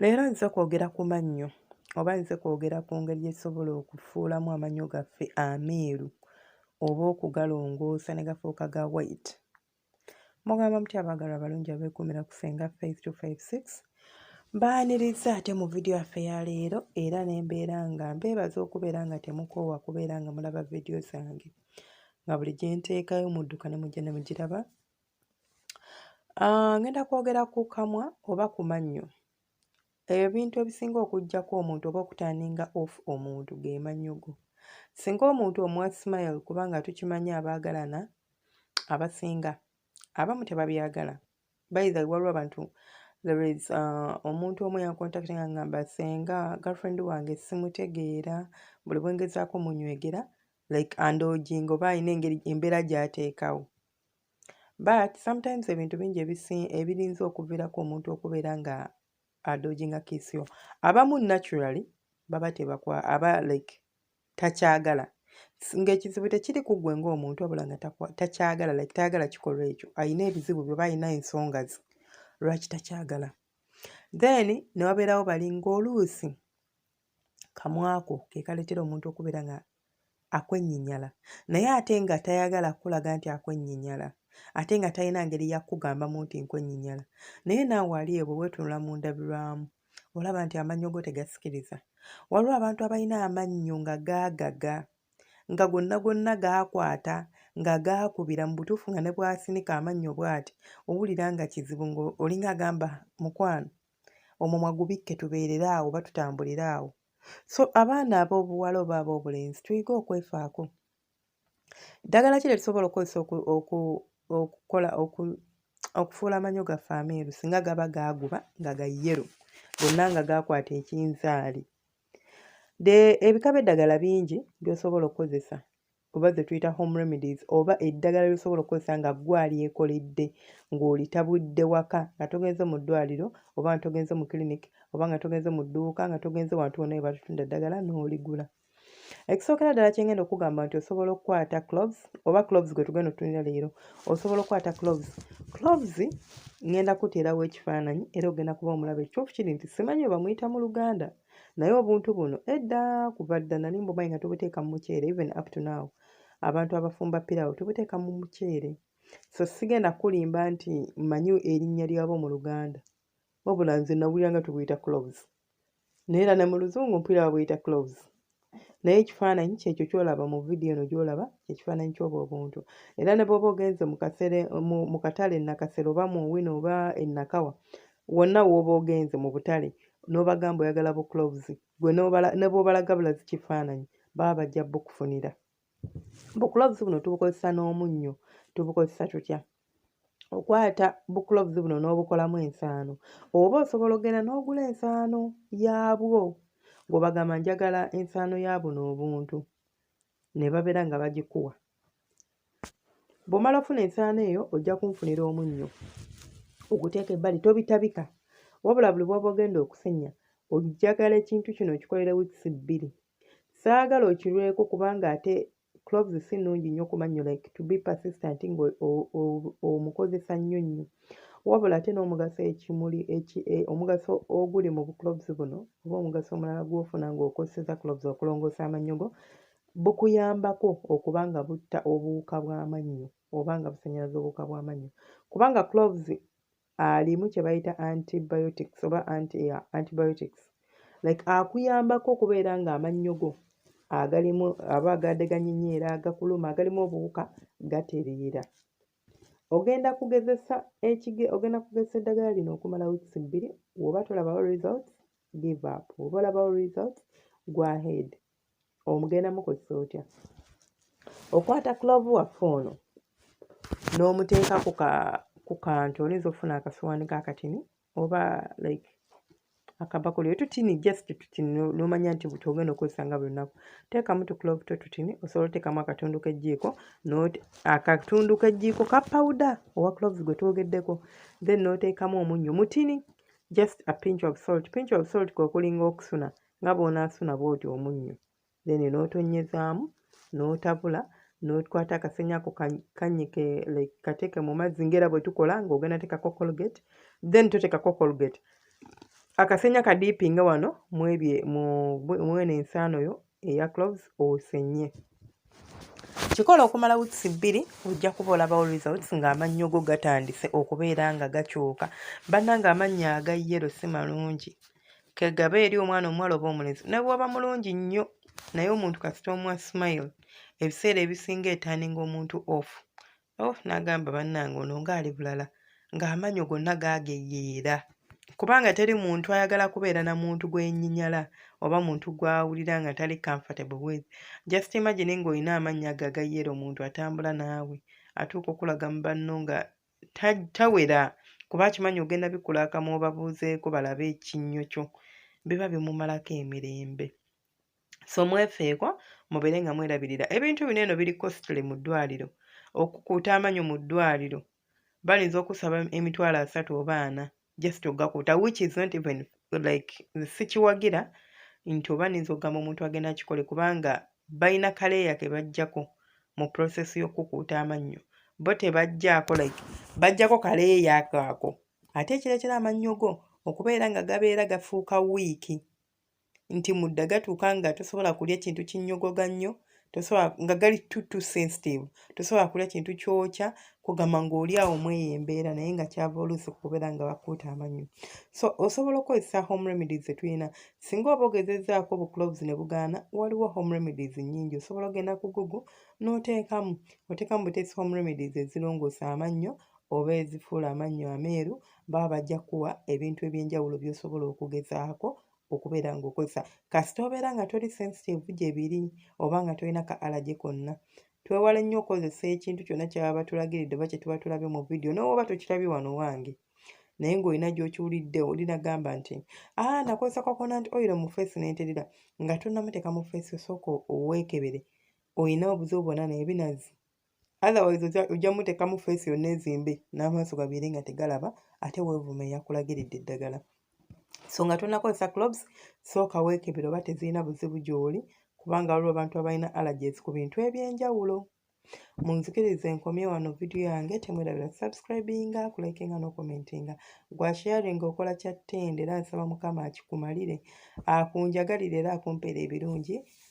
leero nze kwogera ku mannyo oba nze kwogera ku ngeri gyesobola okufuulamu amannyo gaffe ameeru oba okugalongoosa ne gafuuka ga white mugamba muti abaagalwa abalungi abeekuumira ku fenga faith 256 mbaaniriza ate mu vidiyo yaffe ya leero era ne mbeera nga mbeebaza okubeera nga temukoowa kubeera nga mulaba vidiyo zange nga buli gye nteekayo mudduka ne mujja ne mugiraba ah, ngenda kwogera ku kamwa oba ku mannyo Ebintu ebisinga okuggyako omuntu oba okutandinga off omuntu ge manyo go. Singa omuntu omuwa smile kubanga tukimanyi abaagalana abasinga abamu tebabyagala baitha waliwo abantu there is uh, omuntu omu yankontakita nga ngamba senga girlfriend wange simutegeera buli bwengezaako munywegera like andojinga oba alina engeri embeera gyateekawo but sometimes ebintu bingi ebirinza okuviirako omuntu okubeera nga adoginga kisio abamu naturally baba tebakwa aba like takyagala ng'ekizibu tekiri ku ggwe ng'omuntu wabula nga takyagala like tayagala kikolwa ekyo alina ebizibu byoba alina ensonga ze lwaki takyagala then ne wabeerawo bali ng'oluusi kamwako ke kaleetera omuntu okubeera nga akwenyinyala naye ate nga tayagala kukulaga nti akwenyinyala ate nga talina ngeri yakugambamu nti nkwenyinyala naye naawe ali ebwe weetunula mu ndabirwamu olaba nti amannyo go tegasikiriza waliwo abantu abalina amannyo nga gaagaga nga gonna gonna gaakwata nga gaakubira mu butuufu nga ne bwasinika amannyo bwati owulira nga kizibu ngaolinga agamba mukwano omumwa gubikke tubeerere awo oba tutambulire awo so abaana ab'obuwala oba ab'obulenzi tuyige okwefaako ddagala ki lye tusobola okukozesa okukola okufuula amanyo gaffe ameeru singa gaba gaaguba nga ga yero gonna nga gaakwata ekinzaali ebika by'eddagala bingi by'osobola okukozesa oba ze tuyita home remedies oba eddagala lyosobola okukozesa nga gwe alyekoledde ng'olitabudde waka nga togenze mu ddwaliro oba nga togenze mu clinic oba nga togenze mu dduuka nga togenze wantu wonna we batutunda eddagala n'oligula ekisookera ddala kyengenda okugamba nti osobola okukwata cloves oba cloves gwe tugenda otunira leero osobola okukwata cloves cloves ngenda kuteerawo ekifaananyi era ogenda kuba omulaba ekituufu kiri nti simanyi webamuyita mu luganda naye obuntu buno edda kuva dda nali mbumanyi nga tubuteeka mu muceere even up to now abantu abafumba pirawo tubuteeka mu muceere so sigenda kulimba nti manyi erinnya lyabo mu luganda wabula nze nawulira nga tubuyita cloves naye era ne mu luzungu mpulira babuyita cloves naye ekifaananyi kyekyo kyolaba mu vidiyo eno gyolaba ekifaananyi kyobwo obuntu era ne bwoba ogenze mu katale enakasero oba mu wino oba enakawa wonna wooba ogenze mu butale n'obagamba oyagala bu cloves gwe ne bwobalaga bulazi kifaananyi baba bajja bukufunira bukulovuzi buno tubukozesa n'omunnyo tubukozesa tutya okwata bukulovuzi buno n'obukolamu ensaano oba osobola okugenda n'ogula ensaano yaabwo ng'obagamba njagala ensaano ya buno obuntu ne babeera nga bagikuwa bw'omala ofuna ensaano eyo ojja kunfunira omunnyo oguteeka ebbali tobitabika wabula buli bwoba ogenda okusenya ojjagala ekintu kino okikolere wiikisi bbiri Saagala okirweko kubanga ate cloves si nnungi nnyo ku mannyo like to be persistent nga omukozesa nnyo nnyo wabula ate n'omugaso ekimuli e, omugaso oguli mu bucloves buno oba omugaso omulala gw'ofuna ng'okozeseza cloves okulongoosa amannyo go bukuyambako okuba nga butta obuwuka bw'amannyo oba nga busannyalaza obuwuka bw'amannyo kubanga cloves alimu kye bayita antibiotics oba anti, yeah, antibiotics like akuyambako okubeera ng'amannyo go agalimu aba agadeganyenyeera agakuluma agalimu obuwuka gatereera ogenda kugezesa ekige ogenda kugezesa eddagala lino okumala weeks bbiri woba tolabawo results give up woba olabawo results go ahead omugenda mukozesa otya okwata clove waffe ono n'omuteeka ku kantu oyinza okufuna akasuwaani kakatini oba like akabakuli otutini just tutini nomanya nti buti ogenda okozesa nga buli lunaku teekamu tuclove to tutini osobola oteekamu akatundu k'ejjiiko akatundu k'ejjiiko ka pawuda owa cloves gwe twogeddeko then n'oteekamu omunnyo mutini just a pinch of salt pinch of salt kwe kulinga okusuna nga bw'onaasuna bw'oti omunnyo then n'otonnyezaamu n'otabula n'okwata akasenya ako kanyike like kateeke mu mazzi ngaera bwe tukola ng'ogenda teekako colgate then toteekako colgate akasenya kadiipinga wano mwebye mwene ensaano yo eya cloves osenye kikola okumala wiks bbiri ojja kuba olabawo results ng'amannyo go gatandise okubeera nga gakyuka bannanga amannyo aga yero si malungi kegaba eri omwana omuwala oba omulezi nebwoba mulungi nnyo naye omuntu kasita omwa smile ebiseera ebisinga etandinga omuntu off oh nagamba bannange ono ngaali bulala ng'amanyo gonna gaageyeera kubanga teri muntu ayagala kubeera na muntu gwenyinyala oba muntu gwawulira nga tali comfortable with just imagine ng'olina amannya ago agayeera omuntu atambula naawe atuuka okulaga mu banno nga tawera kuba akimanyi ogenda bikula akamwa obabuuzeeko balabe ekinnyo kyo biba bimumalako emirembe so mwefeeko mubeere nga mwerabirira ebintu bino eno biri costly mu ddwaliro okukuuta amanyo mu ddwaliro balinza okusaba emitwalo asatu oba ana just ogakuuta which is not even like sikiwagira nti oba ninza okugamba omuntu agenda akikole kubanga balina kaleeya ke bajjako mu process y'okukuuta amannyo bo tebajjaako like bajjako kaleeya kaako ate ekirala kira amannyo go okubeera nga gabeera gafuuka wiiki nti mudda gatuuka nga tosobola kulya kintu kinnyogoga nnyo tosobola nga gali too too sensitive tosobola kulya kintu kyokya kugamba ng'oli awo mweyo embeera naye nga kyava oluusi kubeera nga bakuuta amanyo so osobola okukozesa home remedies zetulina singa oba ogezezaako obucloves ne bugaana waliwo home remedies nnyingi osobola ogenda ku google n'oteekamu oteekamu buteesi home remedies ezirongoosa amannyo oba ezifuula amannyo ameeru baba bajja kuwa ebintu ebyenjawulo byosobola okugezaako okubeera ngaokozesa kasita obeera nga toli sensitive gye biri oba nga tolina ka alage konna twewale nnyo okukozesa ekintu kyonna kyaba batulagiridde oba kye tuba tulabye mu vidiyo nowoba tokirabye wano wange naye ng'olina gy'okiwulidde olina gamba nti aa ah, nakozesa coconut oil mu feesi nenterera nga tonamuteeka mu feesi osooka oweekebere olina obuzibu bwona naye binazi otherwise ojja- ojja muteekamu feesi yonna ezimbe n'amaaso gabeere nga tegalaba ate weevuma eyakulagiridde eddagala so nga tonakozesa clubs sooka weekebera oba tezirina buzibu gy'oli kubanga waliwo abantu abalina allergies ku bintu eby'enjawulo munzikirize nkomye wano vidiyo yange temwerabira subscribinga kulikinga n'okomentinga gwa sharing okola kya ttende era nsaba mukama akikumalire akunjagalire era akumpeera ebirungi